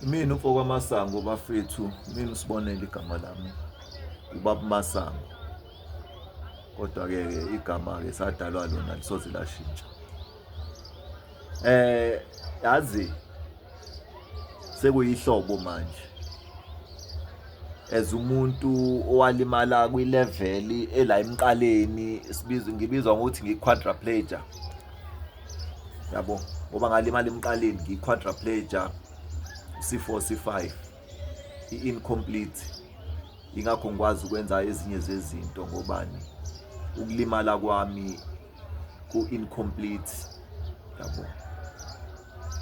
Mina umfo kwamasango bafethu mina usibonele igama lami ubaba masango kodwa-ke ke igama-ke sadalwa lona lisoze lashintsha eh yazi sekuyihlobo manje as umuntu owalimala kwi-level ela emqaleni sibizwa ngibizwa ngokuthi ngi-quadriplegia yabo ngoba ngalimala emqaleni ngiyi-quadraplegia c4 c5 i-incomplete ingakho ngikwazi ukwenza ezinye zezinto ngobani ukulimala kwami ku-incomplete yabo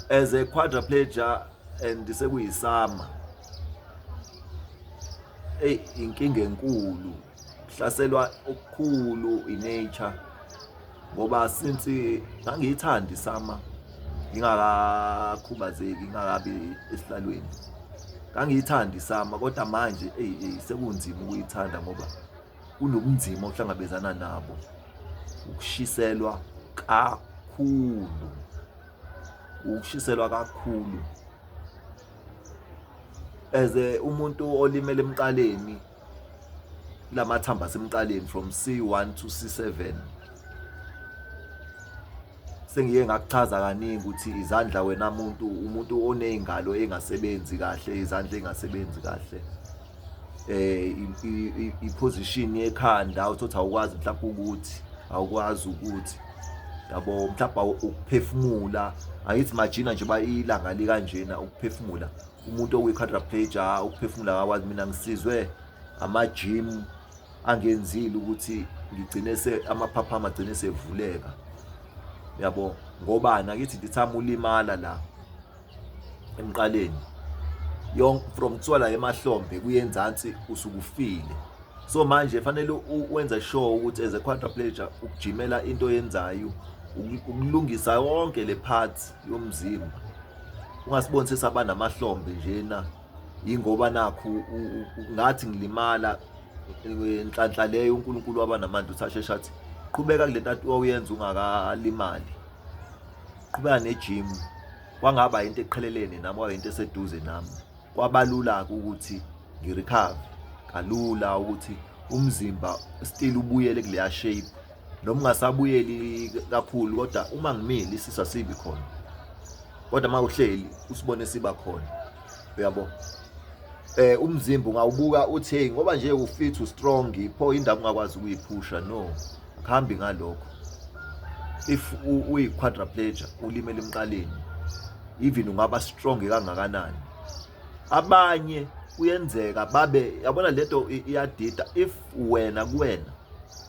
as a quadraplegia and sekuyisama eyi inkinga enkulu hlaselwa okukhulu inature ngoba since ngangiyithandi sama ngingakakhubazeki ngingakabi esihlalweni ngangiyithandi sama kodwa manje eyi eyi sekunzima ukuyithanda ngoba kunobunzima ohlangabezana nabo ukushiselwa kakhulu ukushiselwa kakhulu as umuntu olimele emqaleni lamathamba asemqaleni from C1 to C7 sengiye ngakuchaza kaningi ukuthi izandla wena muntu umuntu onezingalo engasebenzi kahle izandla engasebenzi kahle eh iposition yekhanda uthothi awukwazi mhlawumbe ukuthi awukwazi ukuthi yabo mhlawumbe ukuphefumula angithi majina nje bayilanga likanjena ukuphefumula umuntu okuyi-quadraplegia ukuphefumula akakwazi mina ngisizwe amajim angenzile ukuthi ngigcine se amaphapha amagcine sevuleka yabo ngoba nakithi ndithama ulimala la emqaleni yonke from kuthiwa la emahlombe kuyenzansi usukufile so manje fanele wenze sure ukuthi as a quadriplegia ukujimela into yenzayo ukulungisa yonke le part yomzimba ungasibonisisa abanamahlombe njena yingoba nakhu ngathi ngilimala nhlanhla leyo uNkulunkulu wabanamandla uthi asheshe athi qhubeka kule nto wawuyenza ungakalimali qhubeka nejimu kwangaba yinto eqhelelene nami kwaba yinto eseduze nami kwabalula-ke ukuthi ngirekhave kalula ukuthi umzimba still ubuyele kuleya shape noma ungasabuyeli kakhulu kodwa uma ngimile isisu asibi khona kodwa uma uhleli usibone siba khona uyabo eh umzimba ungawubuka uthi hey ngoba nje ufit ustrong pho indaba ungakwazi ukuyiphusha no Phambi ngalokho if uyi-quadriplegia ulimele emqaleni even ungaba strong kangakanani abanye kuyenzeka babe yabona lento iyadida if wena kuwena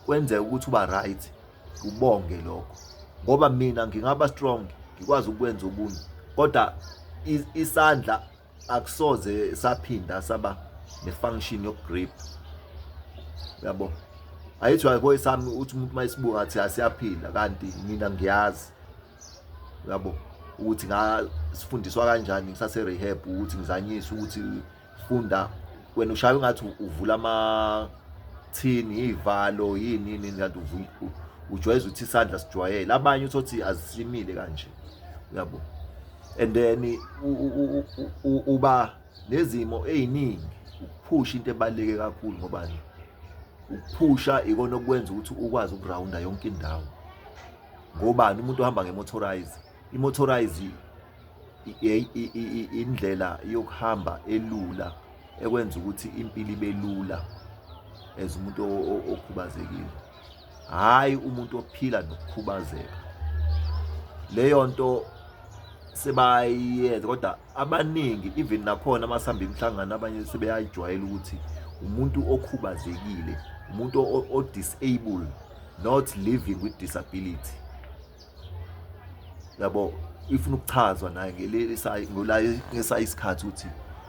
kwenzeka ukuthi uba right ubonge lokho ngoba mina ngingaba strong ngikwazi ukwenza okunye kodwa isandla akusoze saphinda saba nefunction yokugrip yabo ayithi wayekoye sami uthi umuntu uma esibuka athi asiyaphila kanti mina ngiyazi yabo ukuthi ngasifundiswa kanjani ngisase rehab ukuthi ngizanyise ukuthi funda wena ushaye ngathi uvula ama thini ivalo yini yini kanti ujwayeza ukuthi isandla sijwayele abanye uthothi azisimile kanje yabo and then uba nezimo eziningi ukuphusha into ebaluleke kakhulu ngoba ukuphusha ikona okwenza ukuthi ukwazi ukurawunda yonke indawo ngobani umuntu ohamba ngemotorize imotorize indlela yokuhamba elula ekwenza ukuthi impilo ibe lula as umuntu okhubazekile hhayi umuntu ophila nokukhubazeka leyo nto sebayenza kodwa abaningi even nakhona amasihamba imihlangano abanye sebeyayijwayela ukuthi umuntu okhubazekile umuntu o-disable not living with disability yabo ifuna ukuchazwa naye ngesayi isikhathi ukuthi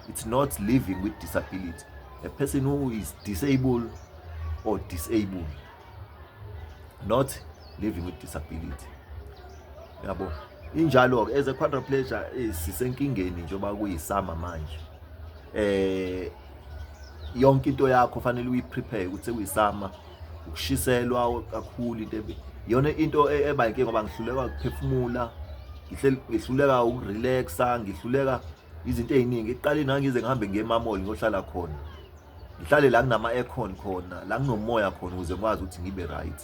it's not living with disability a person who is disabled or disabled not living with disability yabo injalo-ke as a quadriplegia eh, sisenkingeni njengoba kuyisama manje eh yonke into yakho fanele uyiprepare ukuthi sekuyisama ukushiselwa kakhulu into yona into e, eba inkinga ngoba ngihluleka ukuphefumula ngihluleka ukurelaxa ngihluleka izinto eziningi iqale nangize ngihambe ngiye emamoli ngohlala khona ngihlale la kunama aircon khona la kunomoya khona ukuze ngikwazi ukuthi ngibe right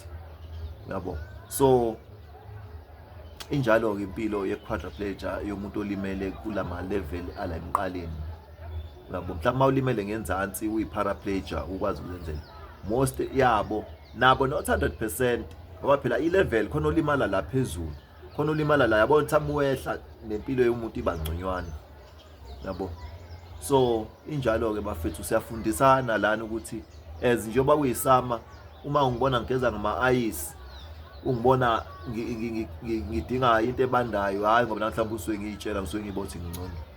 yabo so injalo ke impilo ye quadriplegia yomuntu olimele kulama level ala emqaleni uyabo mhlawumbe uma ulimele ngenzansi uyi-paraplegia ukwazi ukuzenzela most yabo nabo not 100 percent ngoba phela i-level khona olimala la phezulu khona olimala la yabo mhlawumbe wehla nempilo yomuntu iba ngconywana yabo so injalo-ke bafethu siyafundisana lana ukuthi as njengoba kuyisama uma ungibona ngigeza ngama-ayisi ungibona ngidinga into ebandayo hhayi ngoba namhlawumbe usuke ngiyitshela ngisuke ngibothi ngingcono